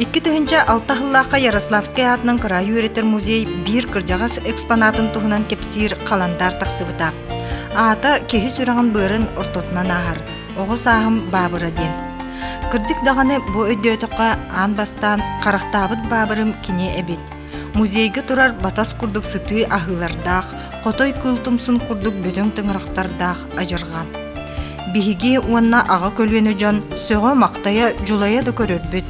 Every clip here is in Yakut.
Икки тыһынча алта хыллаахха Ярославскай аатынан кыраай үөрэтэр музей биир кырдьаҕас экспонатын туһунан кэпсиир халандаар тахсыбыта. Аата киһи сүрэҕин быарын ортотунан ааһар, оҕо сааһым баабыра диэн. Кырдьык даҕаны бу өйдөөтөххө аан бастаан харахтаабыт баабырым кини эбит. Музейга турар батас курдук сытыы аһыылардаах, хотой кыыл тумсун курдук бөдөҥ тыҥырахтардаах адьырҕа. Биһиги уонна аҕа көлүөнэ дьон сөҕө-махтайа, дьулайа да көрөрбүт.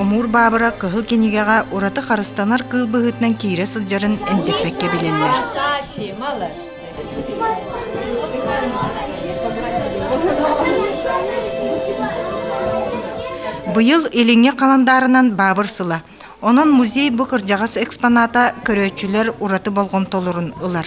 Омуур баабыра Кыһыл кинигэҕэ ураты харыстанар кыыл быһыытынан киирэ сылдьарын эндэппэккэ билэллэр. Быйыл Илиҥҥи халандаарынан баабыр сыла. Онон музей бу кырдьаҕас экспоната көрөөччүлэр ураты болҕомтолорун ылар.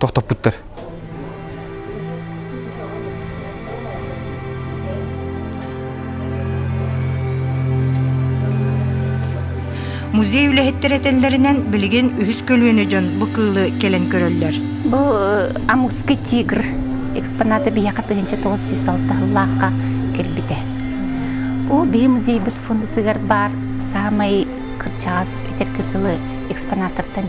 тохтоппуттар. Музей үлэһиттэр этэллэринэн, билигин үһүс көлүөнэ дьон бу кыылы кэлэн көрөллөр. Бу Амурский тигр экспоната биһиэхэ тыһыынча тоҕус сүүс алтыһыллаахха кэлбитэ. Ол биһи музейбыт фондутугар баар саамай кырдьаҕас этэр кытылы экспонаттартан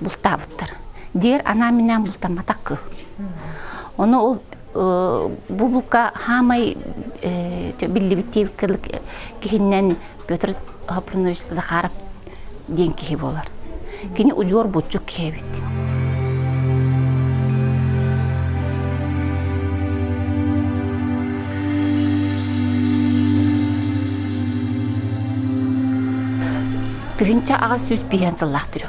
бултаабыттар. Диэр анаа-минээн бултамматах кыл. Ону ол бу булка хаамай биллибит диэбит кылык киһиннэн Петр Хапрынович Захаров диэн киһи буолар. Кини удьуор булчук киһи эбит. Тыһынча аҕыс сүүс биһэн сыллаах түрү.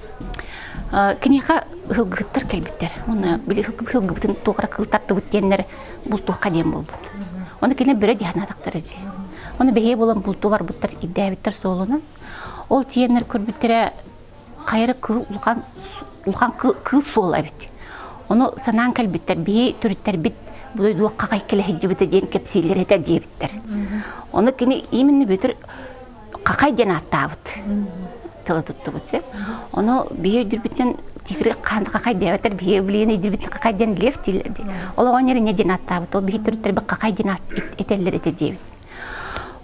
киниэхэ ыһылгыһыттар кэлбиттэр уонна били ыһылгыбытын туохара кылтаттыбыт диэннэр бултуохха диэн буолбут оны кинилэр бөрө дианаатахтара дии оны бэһиэ болон булту барбыттар ирдээбиттэр суолунан ол тиэннэр көрбүттэрэ хайары кыыл улахан улахан кыыл суол эбит ону санаан кэлбиттэр бии түрүттэрбит бу дойдуга какай келеһиджибите диэн кэпсииллер этэ диэбиттэр ону кини именно бүтүр Хахай диэн ааттаабыт тылы туттубут сеп. Ону биһи өйдүрбүттэн тикри хахай диэбэтэр биһи билиэн өйдүрбүттэн хахай диэн лев дииллэр ди. Ол оҕонньор инне диэн ааттаабыт. Ол биһи төрүттэрбит хахай диэн аат этэллэр этэ диэбит.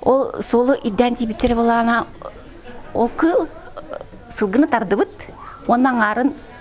Ол суолу иддээн тиийбиттэр болаана ол кыл сылгыны тардыбыт уонна аҥаарын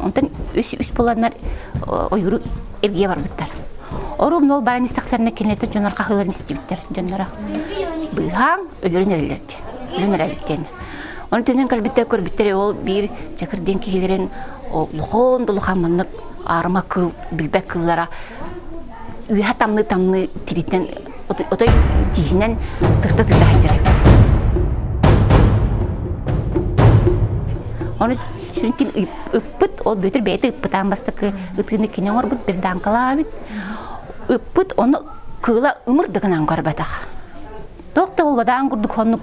Онтон үс-үс буланнар ойууру илгийэ барбыттар. Орум нол баран истэхтэринэ кинилэртэ дьоннор хаһыыларын истибиттэр дьонноро. Быыһаан өлөрүн эрэллэр диэн. Өлөн эрэллэр диэн. Оны төнөн көрбүттэр көрбүттэр ол биир чакыр диэн киһилэрин улахан улахаммыннык аарыма кыл билбэт кыллара үөһэ тамныы-тамныы тириттэн отой тииһинэн тырыта тыыта сылдьар эбит ону сүрүн ким ыппыт ол бүөтүр бэйэтэ ыппытаан бастакы ытыыны кини оҥорбут бирдааҥкалаабыт ыппыт ону кыыла ымыр да гынан көрбөтөх туох да буолбатаан курдук хоннук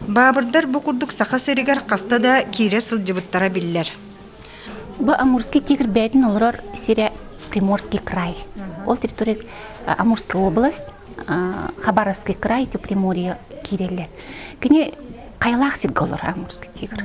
Баабырдар бу курдук Саха сиригэр хаста да киирэ сылдьыбыттара биллэр. Бу Амурский тигр бээтин олорор сирэ Приморский край. Ол территория Амурская область, Хабаровский край, Приморье киирэллэр. Кини қайлақ сирге олор Амурский тигр.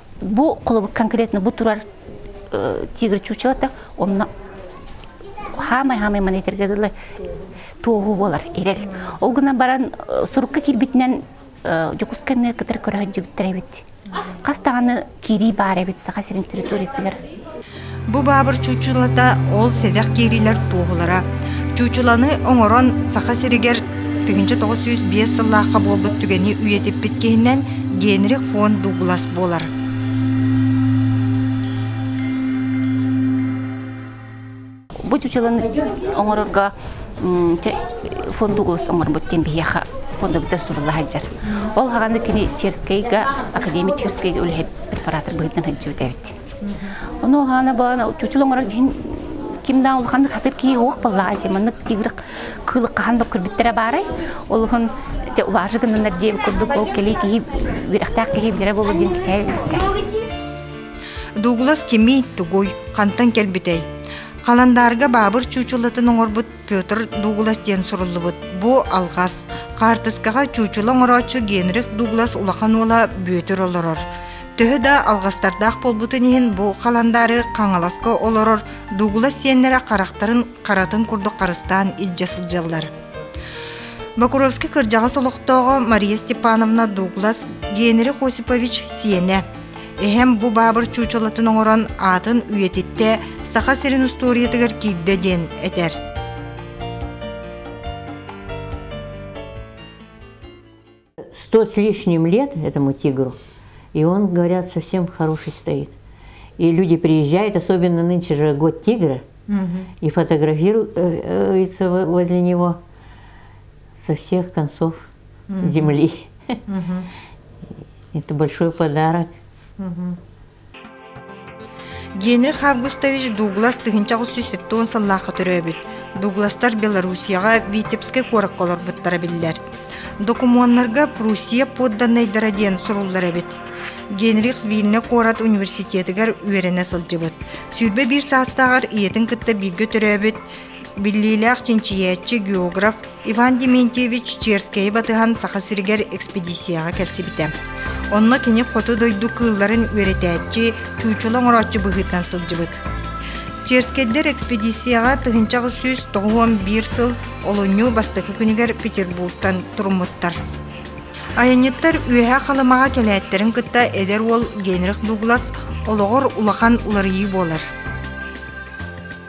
Бу конкретно бу турар тигр чучелото онно хаамай-хаамай маны этерге дылы туоһу болар ирер. Ол гына баран сурукка кирбитинен Дьокусканны кытар көрөһөт жибиттер эбит. Хас таганы киирии баар эбит Саха сирин территориятыгар. Бу баабыр чуучулата ол сэдэх киириилэр туоһулара. Чуучуланы оҥорон Саха сиригэр тыһыынча тоҕус сүүс биэс сыллаахха буолбут түгэни үйэтиппит киһинэн Генрих фон Дуглас буолар. Бу чучыланы оҥорорго фонду улус оҥорбут диэн биһиэхэ фонда бүтэр сурулла сылдьар. Ол хаҕаны кини Черскэйгэ, академия Черскэйгэ үлэһит препаратор быһыытынан сылдьыбыт эбит. Ону ол хаана баан чучул оҥорор иһин кимнаа улаханнык хатыр кии уох баллаа ди маннык тигрик кылык хахан да көрбүттэрэ баарай олуһун же улаажы гыннанар диэм курдук ол кэлий киһи үрэхтээх киһи билэрэ болу диэн кифээ Дуглас кимий, тугуй, хантан кэлбитэй? Халандаарга баабыр чуучулатын оҥорбут Петр Дуглас диэн суруллубут. Бу алҕас. Хаартыскаҕа чуучула оҥорооччу Генрих Дуглас улахан уола Бүөтүр олорор. Төһө да алҕастардаах буолбутун иһин бу халандаары Хаҥаласка олорор Дуглас сиэннэрэ харахтарын харатын курдук харыстаан илдьэ сылдьаллар. Бокуровский кырдьаҕас олохтооҕо Мария Степановна Дуглас Генрих Осипович сиэнэ. Эһэм бу баабыр чуучалатын оҥорон аатын үйэтиттэ Саха сирин устуоруйатыгар киирдэ диэн этэр. Сто с лишним лет этому тигру, и он, говорят, совсем хороший стоит. И люди приезжают, особенно нынче же год тигра, и фотографируются возле него со всех концов. земли. Это большой подарок. Генрих Августович Дуглас тыһынча оҕус сүүсэттон сыллаахха төрөөбүт. Дугластар Белоруссияға Витебскай куоракка олорбуттара биллэр. Докумуоннарга Пруссия подданныйдара диэн суруллар эбит. Генрих Вильна куорат университетыгар үөрэнэ сылдьыбыт. Сүүрбэ биир саастааҕар ийэтин кытта бииргэ төрөөбүт, Биллиилээх чинчийээччи, географ Иван Дементьевич Черскэйи батыһан Саха сиригэр экспедицияҕа кэлсибитэ. Онно кини хоту дойду кыылларын үөрэтээччи, чуучула оҥорооччу быһыытынан сылдьыбыт. Черскэйдэр экспедицияҕа тыһыынча аҕыс сүүс тоҕус уон биир сыл олунньу бастакы күнүгэр Петербургтан туруммуттар. Айанньыттар Үөһээ Халымаҕа кэлээттэрин кытта эдэр уол Генрих Дуглас олоҕор улахан уларыйыы буолар.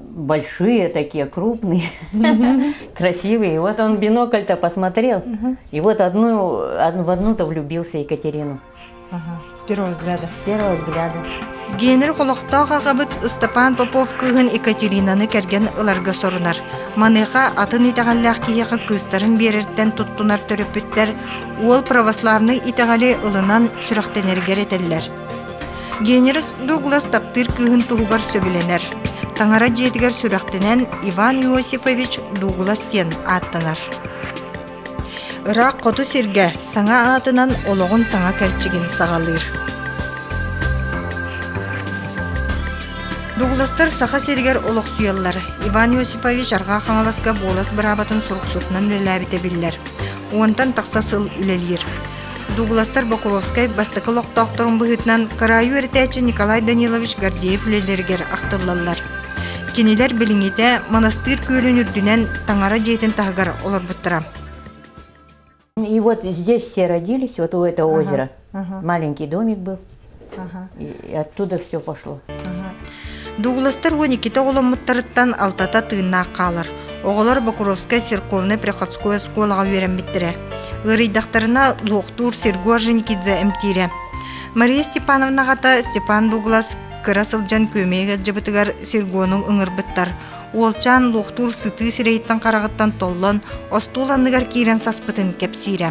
большие такие, крупные, красивые. Вот он бинокль-то посмотрел, и вот одну, в одну-то влюбился Екатерину. С первого взгляда. С первого взгляда. Генер холохтоох ағабыт Ыстапаан Попов кыыһын Екатеринаны кэргэн ыларга сорунар. Маныха атын итэҕэллээх киһиэхэ кыыстарын биэрэртэн туттунар төрөппүттэр уол православный итэҕэли ылынан сүрэхтэнэргэр этэллэр. Генерус Дуглас таптыыр кыыһын туһугар сөбүлэнэр. Таҥара дьиэтигэр сүрэхтэнэн Иван Иосифович Дуглас диэн ааттанар. Ыраах хоту сиргэ саҥа аатынан олоҕун саҥа кэрчигин саҕалыыр. Дугластар Саха сиригэр олохсуйаллар. Иван Иосифович Арҕаа Хаҥаласка Буолас быраабатын суруксутунан үлэлээбитэ биллэр. Уонтан тахса сыл үлэлиир. Дугластар Бокуровскай бастакы олохтоохторун быһыытынан кыраайы үөрэтээччи Николай Данилович Гордеев үлэлэригэр ахтыллаллар. Кинилэр билиҥҥитэ Монастырь күөлүн үрдүнэн Таҥара дьиэтин таһыгар олорбуттара. И вот здесь все родились, вот у этого озера. Маленький домик был. Оттуда все пошло. Дугластар уон иккитэ оҕоломмуттарыттан алтата тыыннаах хаалар. Оҕолор Бокуровская церковная приходской оскуолаҕа үөрэммиттэрэ. Ыарыйдахтарына луохтуур Серго Женикидзе эмтиирэ. Мария Степановна ата Степан Дуглас кыра сылдьан күөмэйгэ дьыбытыгар Сергону ыҥырбыттар. Уолчаан луохтуур сытыы сирэйиттэн хараҕыттан толлон остуол анныгар киирэн саспытын кэпсиирэ.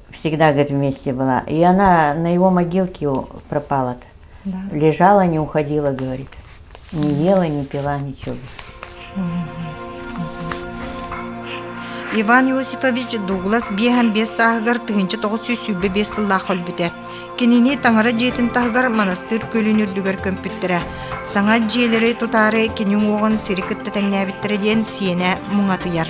всегда говорит вместе была. И она на его могилке пропала Да. Лежала, не уходила, говорит. Не ела, не пила ничего. Иван Иосифович Дуглас биэһэн биэс сааһыгар тыһынча тоҕус сүүс сүүрбэ биэс сыллаах өлбүтэ. Кинини таҥара дьиэтин таһыгар манастыыр көлүн үрдүгэр көмпүттэрэ. Саҥа дьиэлэри тутаары кини уоҕун сири кытта тэҥнээбиттэрэ диэн сиэнэ муҥатыйар.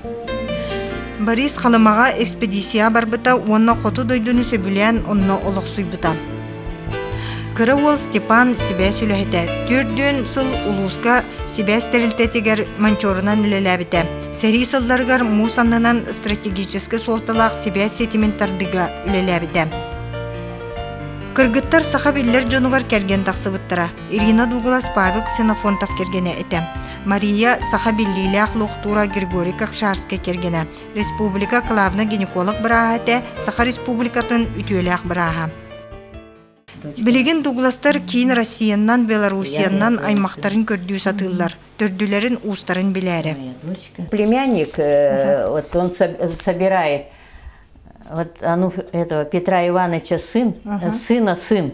Борис Халымаҕа экспедицияҕа барбыта уонна хоту дойдуну сөбүлээн онно олохсуйбута. Кыра уол Степан сибээс үлэһитэ. Төрдүөн сыл улууска сибээс тэрилтэтигэр манчорунан үлэлээбитэ. Сэрии сылларыгар муус аннынан стратегический суолталаах сибээс ситимин тардыыга үлэлээбитэ. Кыргыттар саха биллэр дьонугар кэргэн тахсыбыттара. Ирина Дуглас-Павел Ксенофонтов кэргэнэ этэ. Мария саха биллиилээх луохтуура Григорий Кокшарский кэргэнэ, республика главнай гинеколог бырааһа этэ, Саха Республикатын үтүөлээх бырааһа. Билигин Дугластар киин Россиянан, Белоруссиянан аймахтарын көрдүү сатыыллар, төрдүлэрин, уустарын билээри. Племянник, э, вот он собирает вот, а ну, этого Петра Ивановича сын, ага. сына сын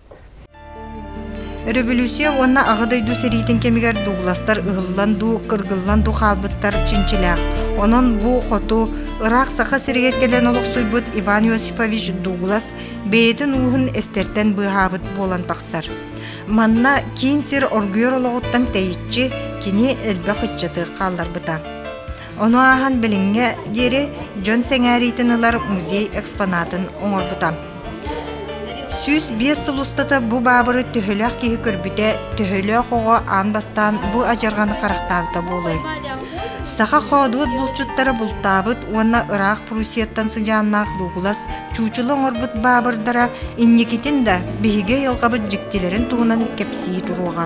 Өрөбөлүүссүйэ уонна Аҕа дойду сэриитин кэмигэр дуугластар ыһыллан дуу, кыргыллан дуу хаалбыттар чинчилээх. Онон бу хоту ыраах Саха сиригэр кэлэн олохсуйбут Иван Иосифович Дуглас бэйэтин ууһун эстэртэн быыһаабыт буолан тахсар. Манна киин сир оргуйар олоҕуттан тэйиччи кини элбэх ыччаты хаалларбыта. Ону ааһан билиҥҥэ диэри дьон сэҥээриитин ылар музей экспонатын оҥорбута. Сүүс биэс сыл устата бу баабыры төһөлөөх киһи көрбүтэ, төһөлөөх оҕо аан бастаан бу адьарҕаны харахтаабыта буолуой? Саха хоодуот булчуттара бултаабыт уонна ыраах Пруссияттан сыдьааннаах дуугулас чуучулу оҥорбут баабырдара инникитин да биһиги айылҕабыт дьиктилэрин туһунан кэпсии туруоҕа.